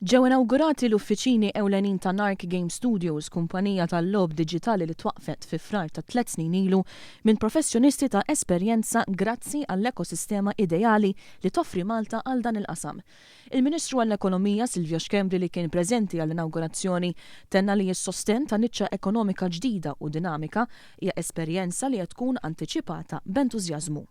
Ġew inawgurati l-uffiċini ewlenin ta' Nark Game Studios, kumpanija tal-logħob diġitali li twaqqfet fi Frar ta' tliet snin ilu minn professjonisti ta' esperjenza grazzi għall-ekosistema ideali li toffri Malta għal dan il-qasam. Il-Ministru għall-Ekonomija, Silvio Schembri li kien preżenti għall-inawgurazzjoni tenna li s-sostenn ta' niċċa ekonomika ġdida u dinamika hija esperjenza li qed tkun antiċipata b'entużjażmu.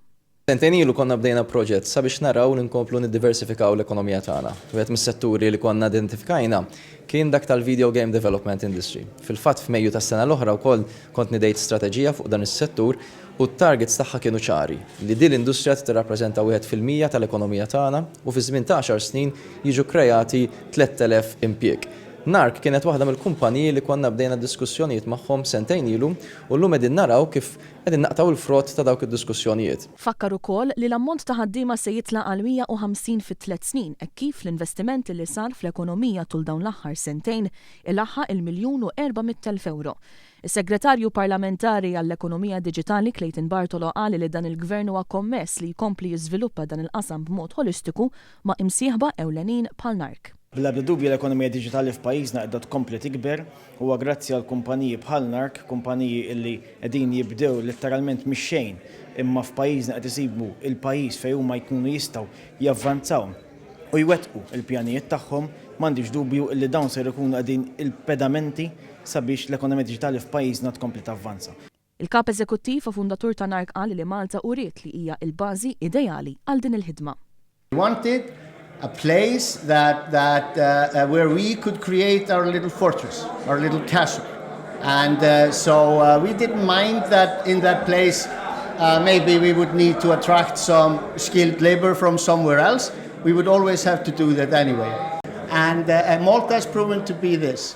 Sentejn ilu konna bdejna proġett sabiex naraw li nkomplu niddiversifikaw l-ekonomija tagħna. Wieħed mis-setturi li konna identifikajna kien dak tal-video game development industry. Fil-fatt f'Mejju tas-sena l-oħra wkoll kont nidejt strateġija fuq dan is-settur u t-targets tagħha kienu ċari, li din l-industrija trid tirrappreżenta wieħed fil-mija tal-ekonomija tagħna u fi żmien ta' għaxar snin jiġu kkrejati 3,000 impjieg. Nark kienet waħda mill-kumpaniji li konna bdejna diskussjonijiet magħhom sentejn ilu u llum qegħdin naraw kif Qegħdin naqtgħu l-frott ta' dawk id-diskussjonijiet. Fakkar ukoll li l-ammont ta' ħaddiema se jitla' għal 150 fi tliet snin hekk kif l-investiment li sar fl-ekonomija tul dawn l-aħħar sentejn ilaħħaq il-miljun u erba' mitt elf ewro. Is-Segretarju Parlamentari għall-Ekonomija Diġitali Clayton Bartolo qal li dan il-Gvern huwa kommess li jkompli jiżviluppa dan il-qasam b'mod ħolistiku ma' imsieħba ewlenin bħal NARK. Bl-ebda dubju l-ekonomija diġitali f'pajjiżna qiegħda tkompli tikber. Huwa grazzi għal kumpaniji bħal NARK, kumpaniji illi qegħdin jibdew letteralment mix-xejn imma f'pajjiżna qed isibu l-pajjiż fejn huma jkunu jistgħu javvanzaw u jwettqu l-pjanijiet tagħhom. M'għandix dubju illi dawn ser ikunu qegħdin il-pedamenti sabiex l-ekonomija diġitali f'pajjiżna tkompli tavvanza. Il-Kap Eżekuttiv u fundatur ta' NARC qal li Malta uriet li hija l-bażi ideali għal din il-ħidma. We wanted a place that that where we could create our little fortress, our little castle and so we didn't mind that in that place maybe we would need to attract some skilled labour from somewhere else, we would always have to do that anyway and Malta has proven to be this.